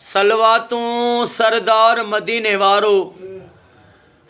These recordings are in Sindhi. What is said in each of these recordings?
صلواتون سردار مديني وارو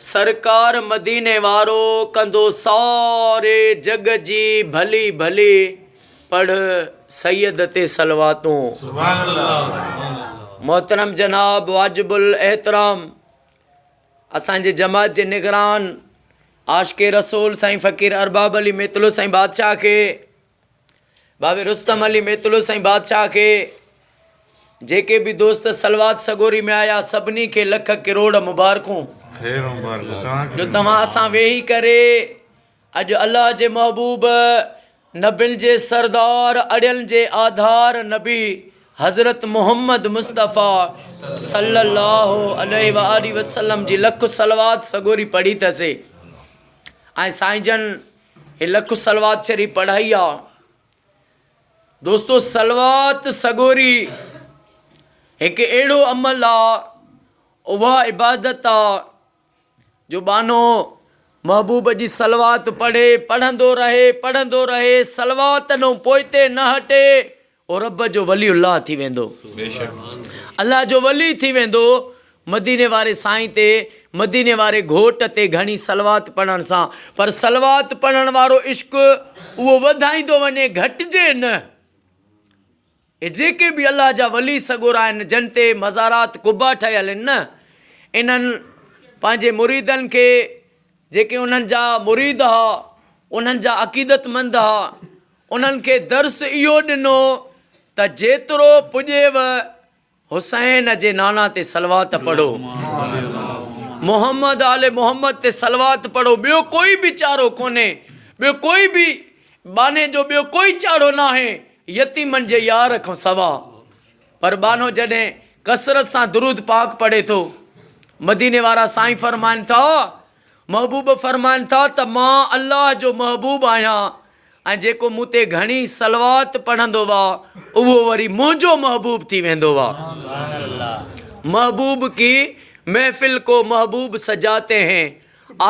سرڪار مديني وارو ڪندو ساري جڳ جي ڀلي ڀلي پڙھ سيد تي صلواتون محترم جناب واجب الاحترام اسانجي جماعت جي نگران عاشق رسول سائين فقير ارباب علي ميتلو سائين بادشاھ کي بابي رستم علي ميتلو سائين بادشاهه کي جيڪي به دوست صلوات سڳوري ۾ آيا سڀني کي لک ڪروڙ مبارڪون جو توهان اسان ويهي ڪري اڄ الله جي محبوب نبين جي سردار اڙين جي آڌار نبي حضرت محمد مصطفيٰ صلي الله عليه وآله وسلم جي لک صلوات سڳوري پڙهي ٿاسي ۽ سائين جن هي لک صلوات شريف پڙهائي آ دوستو صلوات سڳوري هڪ اهڙو عمل آ اها عبادت آ جو بانو محبوب جي صلوات پڙهي پڙهندو رهي پڙهندو رهي صلوات نو پوئتي نه هٽي او رب جو ولي الله ٿي ويندو. الله جو ولي ٿي ويندو. مديني واري سائين تي مديني واري گهوٽ تي گهڻي صلوات پڙهڻ سان پر صلوات پڙهڻ وارو عشق اهو وڌائيندو وڃي گهٽجي نه اهي جيڪي به الله جا ولي سڳورا آهن جن تي مزارات قبا ٺهيل آهن نه انهن پنهنجي مريدن کي جيڪي انهن جا مريد ها انهن جا عقيدت مند ها انهن کي درس اهو ڏنو ته جيترو پڄيو حسين جي نانا تي صلوات پڙهو، محمد آل محمد تي صلوات پڙهو، ٻيو ڪوئي به چارو ڪونهي، ٻيو ڪوئي به ٻانهي جو ٻيو ڪوئي چاڙهو ناهي يتيمن جي يار کان سوا. پر ٻانهو جڏهن ڪثرت سان درود پاڪ پڙهي ٿو، مديني وارا سائين فرمائن ٿا. محبوب فرمائن ٿا ته مان الله جو محبوب آهيان ۽ جيڪو مون تي گهڻي صلوات پڙهندو وه اهو وري منهنجو محبوب ٿي ويندو وه محبوب ڪي محفل ڪو محبوب سجاتي هين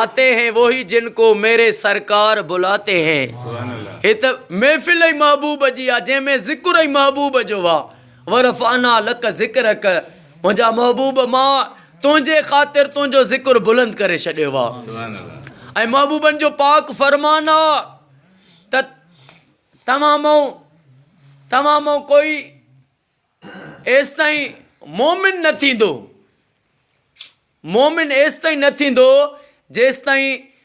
آتي هين ووهي جن ڪو ميري سرڪار بلاتي هين هي ته محفل ئي محبوب جي آ جنهن ۾ ذڪر ئي محبوب جو وه ورفعنا لڪ ذڪرڪ منهنجا محبوب مان تنهنجي خاطر تنهنجو ذڪر بلند ڪري ڇڏيو آ ۽ محبوبن جو پاڪ فرمان آ ته توهان مئو توهان مئو ڪوئي ايستائين مؤمن نه ٿيندو مؤمن ايستائين نه ٿيندو جيستائين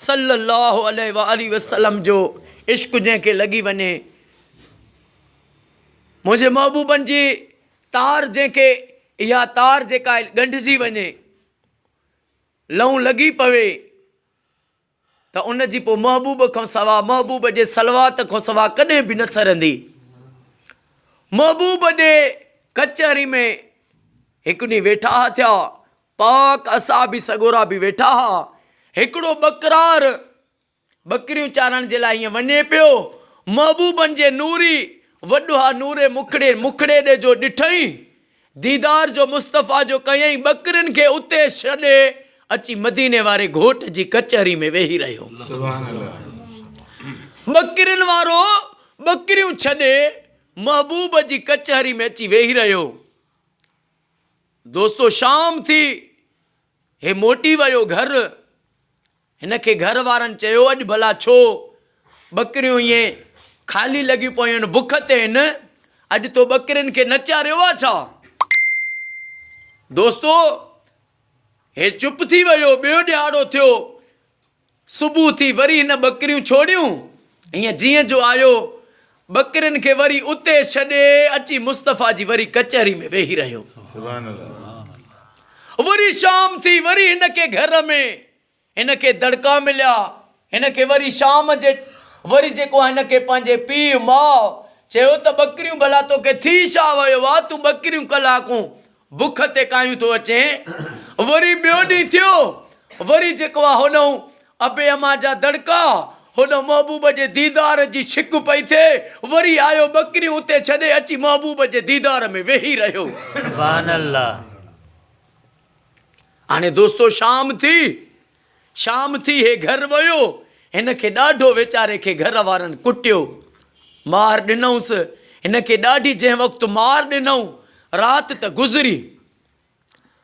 صلّي اللّٰه عليه واٰله وسلّم جو عشق جنهن کي لڳي وڃي، منهنجي محبوبن جي تار جنهن کي اها تار جيڪا ڳنڍجي وڃي، لئون لڳي پوي ته ان جي پوء محبوب کان سوا محبوب جي صلّوات کان سوا ڪڏهن به نه سرندي. محبوب جي ڪچهري ۾ هڪ ڏينهن ويٺا ٿيا. پاڪ اصحابي سڳورا به ويٺا ها. هڪڙو ٻڪرار، ٻڪريون چارڻ جي لاء هيئن وڃي پيو. محبوبن جي نوري وڏوها نوري مکڙي مکڙي ڏي جو ڏٺئين، ديدار جو مصطفيٰ جو ڪيئين ٻڪرين کي اتي ڇڏي اچي مديني واري گهوٽ جي ڪچهري ۾ ويهي رهيو. ٻڪرين وارو ٻڪريون ڇڏي محبوب جي ڪچهري ۾ اچي ويهي رهيو. دوستو شام ٿي هي موٽي ويو گهر. هن کي گهر وارن چيو اڄ ڀلا ڇو ٻڪريون ائين خالي لڳيون پيون آهن بک تي آهن اڄ تو ٻڪرين کي نه چاريو آهي ڇا؟ دوستو هي چپ ٿي ويو ٻيو ڏهاڙو ٿيو صبح ٿي وري هن ٻڪريون ڇوڙيون ۽ جيئن جو آيو ٻڪرين کي وري اتي ڇڏي اچي مصطفيٰ جي وري ڪچهري ۾ ويهي رهيو. وري شام ٿي وري هن کي گهر ۾ هن کي دڙڪا مليا هن کي وري شام جي وري جيڪو آهي هن کي پنهنجي پيء ماء چيو ته ٻڪريون ڀلا توکي ٿي ڇا ويو آ تون ٻڪريون ڪلاڪون بک تي ڪايون ٿو اچين. وري ٻيو ڏينهن ٿيو. وري جيڪو آ هوڏهون ابي امان جا دڙڪا، هوڏهون محبوب جي ديدار جي شڪ پئي ٿئي. وري آيو ٻڪريون اتي ڇڏي اچي محبوب جي ديدار ۾ ويهي رهيو. سبحان الله. هاڻي دوستو شام ٿي. شام ٿي هي گهر ويو، هن کي ڏاڍو ويچاري کي گهر وارن ڪٽيو. مار ڏنئونس هن کي ڏاڍي جنهن وقت مار ڏنئون رات ته گذري.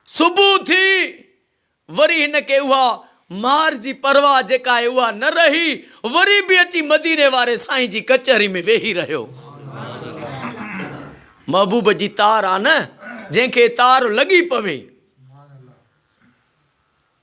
صبح ٿي وري هن کي اها مار جي پرواهه جيڪا آهي اها نه رهي وري به اچي مديني واري سائين جي ڪچهري ۾ ويهي رهيو. محبوب جي تار آ نه جنهن کي تار لڳي پوي.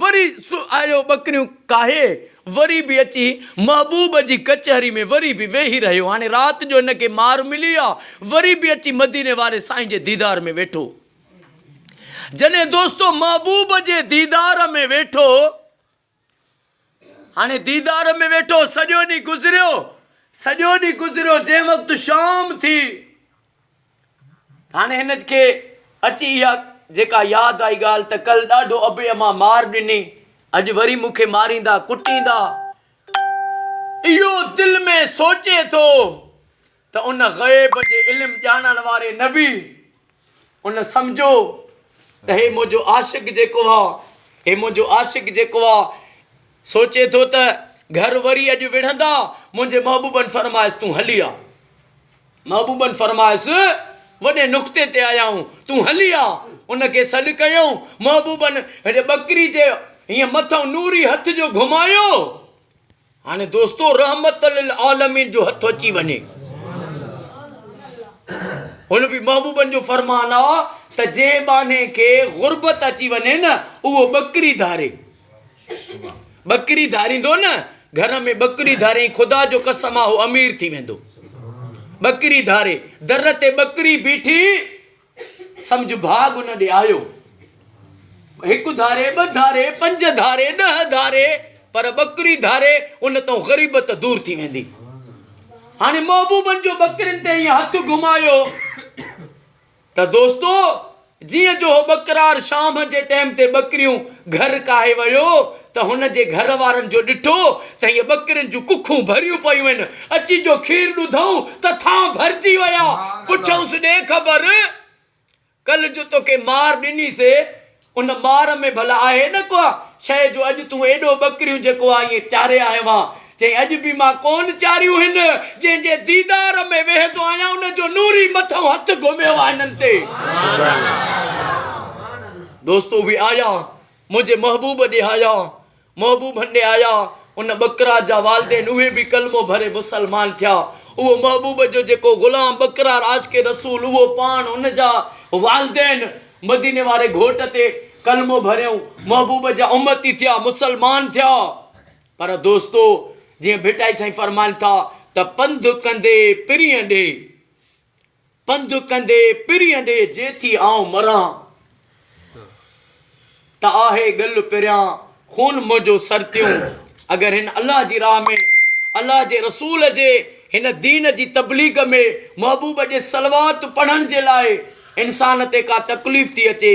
وري آيو ٻڪريون ڪاهي، وري به اچي محبوب جي ڪچهري ۾ وري به ويهي رهيو. هاڻي رات جو هن کي مار ملي آ، وري به اچي مديني واري سائين جي ديدار ۾ ويٺو. جڏهن دوستو محبوب جي ديدار ۾ ويٺو. هاڻي ديدار ۾ ويٺو، سڄو ڏينهن گذريو، سڄو ڏينهن گذريو، جنهن وقت شام ٿي، هاڻي هن کي اچي اها جيڪا ياد آئي ڳالهه ته ڪل ڏاڍو ابي امان مار ڏني، اڄ وري مون کي ماريندا، ڪٽيندا. اهو دل ۾ سوچي ٿو، ته ان غيب جي علم ڄاڻڻ واري نبي ان سمجهيو ته هي منهنجو عاشق جيڪو آ هي منهنجو عاشق جيڪو آ سوچي ٿو ته گهر وري اڄ وڙهندا منهنجي محبوبن فرمايس تون هلي آ محبوبن فرمايس وڏي نقطي تي آيا آهيون تون هلي آ ان کي سڏ ڪيائون محبوبن هن ٻڪري جي هيئن مٿئون نوري هٿ جو گهمايو هاڻي دوستو رحمت للعالمين جو هٿ اچي وڃي هن به محبوبن جو فرمان آ ته جنهن ٻانهي کي غربت اچي وڃي نه اهو ٻڪري ڌاري ٻڪري ڌاريندو نه گهر ۾ ٻڪري ڌاري خدا جو قسم آ هو امير ٿي ويندو ٻڪري ڌاري در تي ٻڪري بيٺي سمجهه ڀاڳ ان ڏي آيو. هڪ ڌاري، ٻه ڌاري، پنج ڌاري، ڏهه ڌاري، پر ٻڪري ڌاري، ان تئون غريبت دور ٿي ويندي. هاڻي محبوبن جو ٻڪرين تي ائين هٿ گهمايو ته دوستو جيئن جو هو ٻڪرار شام جي ٽيم تي ٻڪريون گهر ڪاهي ويو، ته هن جي گهر وارن جو ڏٺو ته هيء ٻڪرين جون ڪکون ڀريون پيون آهن، اچي جو کير ڏڌئون ته ٿانء ڀرجي ويا، پڇئونس ڏي خبر، ڪلهه جو توکي مار ڏني سي، ان مار ۾ ڀلا آهي نه ڪا شيء جو اڄ تون ايڏو ٻڪريون جيڪو آء ائين چاري آيو آهيان، چيائين اڄ به مان ڪونه چاريون هن جنهن جي ديدار ۾ ويهندو آهيان ان جو نوري مٿئون هٿ گهميو آهي هنن تي. دوستو اهي آيا منهنجي محبوب ڏي آيا، محبوب ڏي آيا، ان ٻڪرار جا والدين اهي به ڪلمو ڀري مسلمان ٿيا، اهو محبوب جو جيڪو غلام ٻڪرار عاشق رسول اهو پاڻ ان جا والدين مديني واري گهوٽ تي ڪلمو ڀريو محبوب جا امتي ٿيا مسلمان ٿيا پر دوستو جيئن ڀٽائي سائين فرمائن ٿا ته پنڌ ڪندي پرينء ڏي پنڌ ڪندي پرينء ڏي جي ٿي آئون مران ته آهي ڳل پريان خون منهنجو سرتيون اگر هن الله جي راهه ۾ الله جي رسول جي هن دين جي تبليغ ۾ محبوب جي صلوات پڙهڻ جي لاء انسان تي ڪا تڪليف ٿي اچي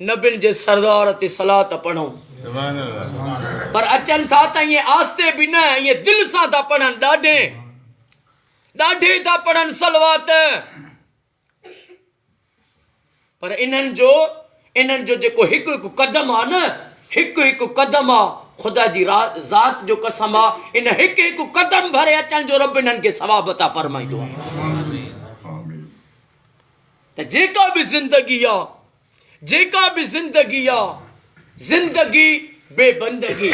نبين جي سردار تي صلات پڙهون پر اچن ٿا ته ائين آهستي به نه ائين دل سان ٿا پڙهن ڏاڍي ڏاڍي ٿا پڙهن صلوات پر انهن جو انهن جو جيڪو هڪ هڪ قدم آ نه هڪ هڪ قدم آ خدا جي ذات جو قسم آ ان هڪ هڪ قدم ڀري اچن جو رب انهن کي ثواب عطا فرمائيندو آ ته جيڪا به زندگي آ جيڪا به زندگي آ زندگي بي بندگي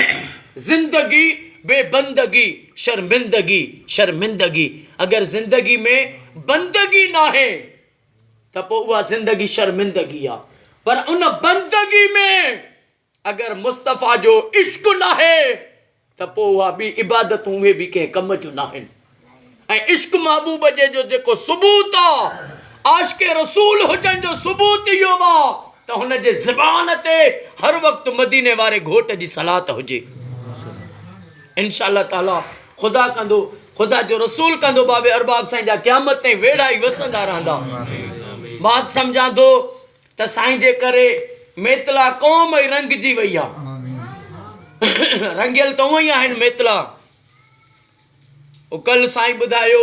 زندگي بي بندگي شرمندگي شرمندگي اگر زندگي ۾ بندگي ناهي ته پوء اها زندگي شرمندگي آ پر ان بندگي ۾ اگر مصطفيٰ جو عشق ناهي ته پوء اها ٻي عبادتون اهي به ڪنهن ڪم جون ناهن ۽ عشق محبوب جي جو جيڪو ثبوت آ عاشق رسول هجڻ جو ثبوت اهو آ ته هن جي زبان تي هر وقت مديني واري گهوٽ جي صلات هجي انشاء الله تعالي خدا ڪندو خدا جو رسول ڪندو باب ارباب سائين جا قيامت تائين ويڙها ئي وسندا رهندا مات سمجهان ٿو ته سائين جي ڪري ميتلا قوم ئي رنگجي وئي آ رنگيل ته اوئي آهن ميتلا اڪل سائين ٻڌايو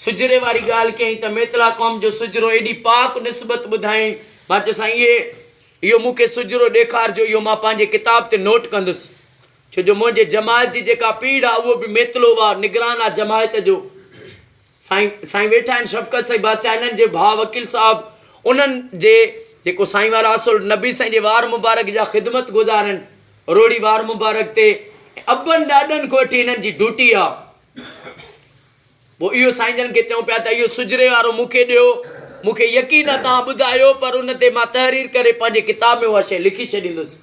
سجري واري ڳالهه ڪيائين ته ميتلا قوم جو سجرو ايڏي پاڪ نسبت ٻڌائين مان چيو سائين اهي اهو مون کي سجرو ڏيکارجو اهو مان پنهنجي ڪتاب تي نوٽ ڪندس ڇو جو منهنجي جماعت جي جيڪا پيڙهه آ اهو به ميتلو آ نگران آ جماعت جو سائين سائين ويٺا آهن شفقت سائين بادشاهه انهن جي ڀاء وڪيل صاحب انهن جي جيڪو سائين وارا اصل نبي سائين جي وار مبارڪ جا خدمت گذار آهن روهڙي وار مبارڪ تي ابن ڏاڏن کان وٺي انهن جي ڊوٽي آ پوء اهو سائين جن کي چئون پيا ته اهو سجري وارو مون کي ڏيو مون کي يقين آ تان ٻڌايو پر ان تي مان تحرير ڪري پنهنجي ڪتاب ۾ اها شيء لکي ڇڏيندس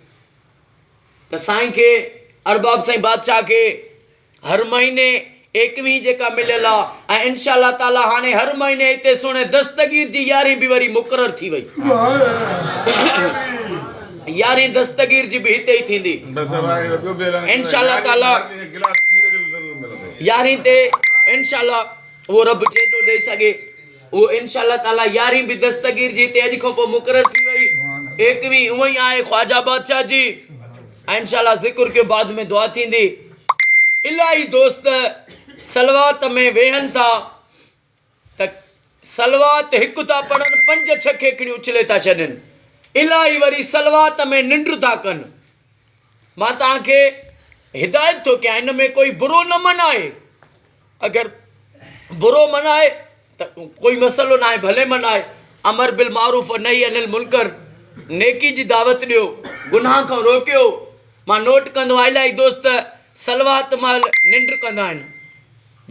ته سائين کي ارباب سائين بادشاهه کي هر مهيني ايڪويهين جيڪا مليل آ ۽ انشاء الله تعالي هاڻي هر مهيني هتي سهڻي دستگير جي يارهين به وري مقرر ٿي وئي يارهين دستگير جي به هتي ئي ٿيندي انشاء الله تعالي يارهين تي انشاء الله اهو رب جيڏو ڏئي سگهي اهو انشاء الله تعالي يارهين به دستگير جي هتي اڄ کان پوء مقرر ٿي وئي ايڪويهين اونئي آهي خواجا بادشاهه جي انشاء الله ذڪر ڪيو بعد ۾ دعا ٿيندي الاهي دوست صلوات ۾ ويهن ٿا ته صلوات هڪ ٿا پڙهن پنج ڇهه کيکڙيون اڇلي ٿا ڇڏين الاهي وري صلوات ۾ ننڊ ٿا ڪن مان توهان کي هدايت ٿو ڪيان ان ۾ ڪوئي برو نه من آهي اگر برو منائي ته ڪوئي مسئلو ناهي ڀلي منائي امر بالمعروف و نهي عن المنڪر نيڪي جي دعوت ڏيو گناهه کان روڪيو مان نوٽ ڪندو آهيان الائي دوست صلوات مهل ننڊ ڪندا آهن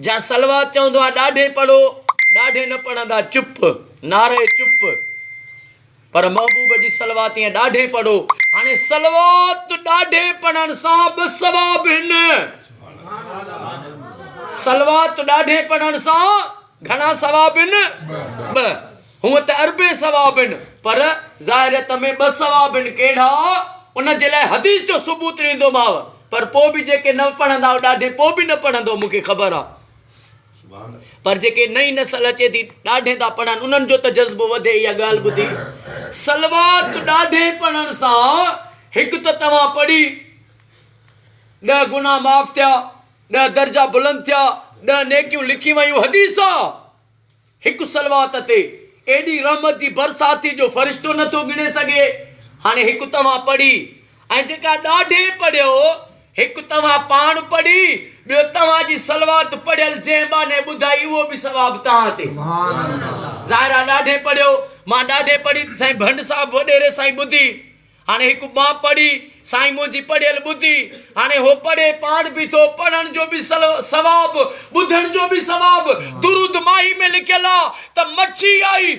جا صلوات چوندو آهيان ڏاڍي پڙهو ڏاڍي نه پڙهندا چپ نعره چپ پر محبوب جي صلوات ۽ ڏاڍين پڙهو هاڻي صلوات ڏاڍين پڙهڻ سان ٻه ثواب هن صلوات ڏاڍين پڙهڻ سان گهڻا ثواب هن ٻه هونء ته اربين ثواب هن پر ظاهريت ۾ ٻه ثواب هن ڪهڙا ان جي لاء حديث جو ثبوت ڏيندوماء پر پوء به جيڪي نه پڙهندا ڏاڍين پوء به نه پڙهندو مون کي خبر آ پر جيڪي نئين نسل اچي ٿي ڏاڍين ٿا پڙهن انهن جو ته جذبو وڌي اها ڳالهه ٻڌي سلوات ڏاڍين پڙهڻ سان هڪ ته توهان پڙهي ڏه گناهه معاف ٿيا ڏه درجا بلند ٿيا ڏه نيڪيون لکي ويون حديث هڪ صلوات تي ايڏي رحمت جي برساتي جو فرشتو نه ٿو ڳڻي سگهي. هاڻي هڪ توهان پڙهي ۽ جيڪا ڏاڍي پڙهيو، هڪ توهان پاڻ پڙهي، ٻيو توهان جي صلوات پڙهيل جنهن ٻانهي ٻڌائي اهو به ثواب توهان تي. ظاهر آ ڏاڍي پڙهيو، مان ڏاڍي پڙهي ته سائين ڀنڊ صاحب وڏيري سائين ٻڌي. هاڻي هڪ ٻانهه پڙهي، سائين منهنجي پڙهيل ٻڌي، هاڻي هو پڙهي پاڻ به ٿو، پڙهڻ جو به ثواب، ٻڌڻ جو به ثواب، درود ماهي ۾ لکيل آ ته مڇي آئي،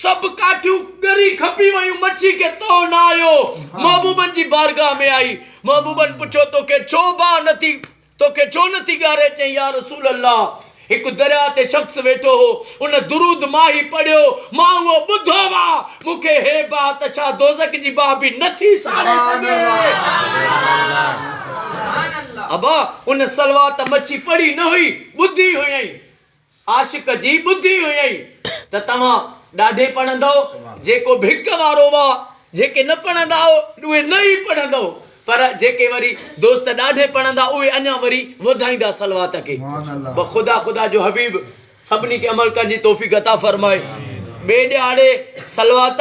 سڀ ڪاٺيون ڳري کپي ويون، مڇي کي تئو نه آيو، محبوبن جي بارگاهه ۾ آئي، محبوبن پڇيو توکي ڇو باهه نٿي توکي ڇو نه ٿي ڳاري؟ چيائين، يا رسول الله! هڪ درياء تي شخص ويٺو هو، ان درود مان هي پڙهيو، مان اهو ٻڌو آ، مون کي هي باهه ته ڇا دوزخ جي باهه به نه ٿي ساڙي سگهي؟ ابا! ان صلوات مڇي پڙهي نه هئي، ٻڌي هيائين. عاشق جي ٻڌي هيئي ته توهان ڏاڍي پڙهندؤ، جيڪو ڀڪ وارو هئا، جيڪي نه پڙهندا هئا، اهي نه ئي پڙهندؤ، پر جيڪي وري دوست ڏاڍي پڙهندا، اهي اڃا وري وڌائيندا صلوات کي. بس خدا خدا جو حبيب سڀني کي عمل ڪرڻ جي توفيق عطا فرمائي. ٻئي ڏهاڙي صلوات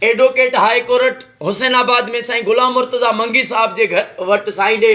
advocate high court Hussainabad ۾ سائين غلام مرتضيٰ منگي صاحب جي گهر وٽ سائين ڏي.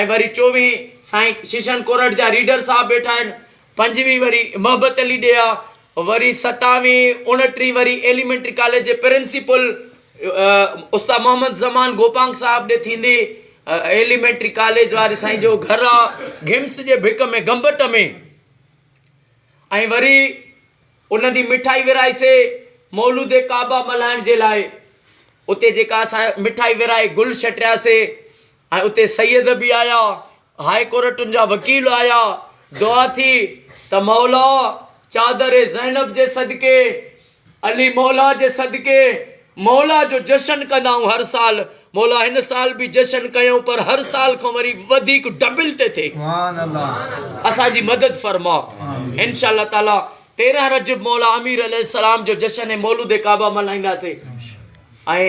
۽ وري چوويهين سائين ششن ڪورٽ جا ريڊر صاحب ويٺا آهن پنجويهين وري محبت علي ڏيها وري ستاويهين اوڻٽيهين وري ايليمينٽري ڪاليج جي پرنسپل استاد محمد زمان گوپانگ صاحب ڏي ٿيندي ايليمينٽري ڪاليج واري سائين جو گهر آ گهمس جي ڀڪ ۾ گمبٽ ۾ ۽ وري انهن جي مٺائي ورائي سي مولود ڪعبه ملهائڻ جي لاء اتي جيڪا اسان مٺائي ورائي گل شٽرياسي ۽ اتي سيد به آيا هاء ڪورٽن جا وڪيل آيا دعا ٿي ته مولا چادر زينب جي صدقي علي مولا جي صدقي مولا جو جشن ڪندائون هر سال مولا هن سال به جشن ڪيون پر هر سال کان وري وڌيڪ ڊبل تي ٿي اسان جي مدد فرما انشاء الله تعالي تيرهن رجب مولا امير عليه السلام جو جشن مولود ڪعبه ملهائينداسي ۽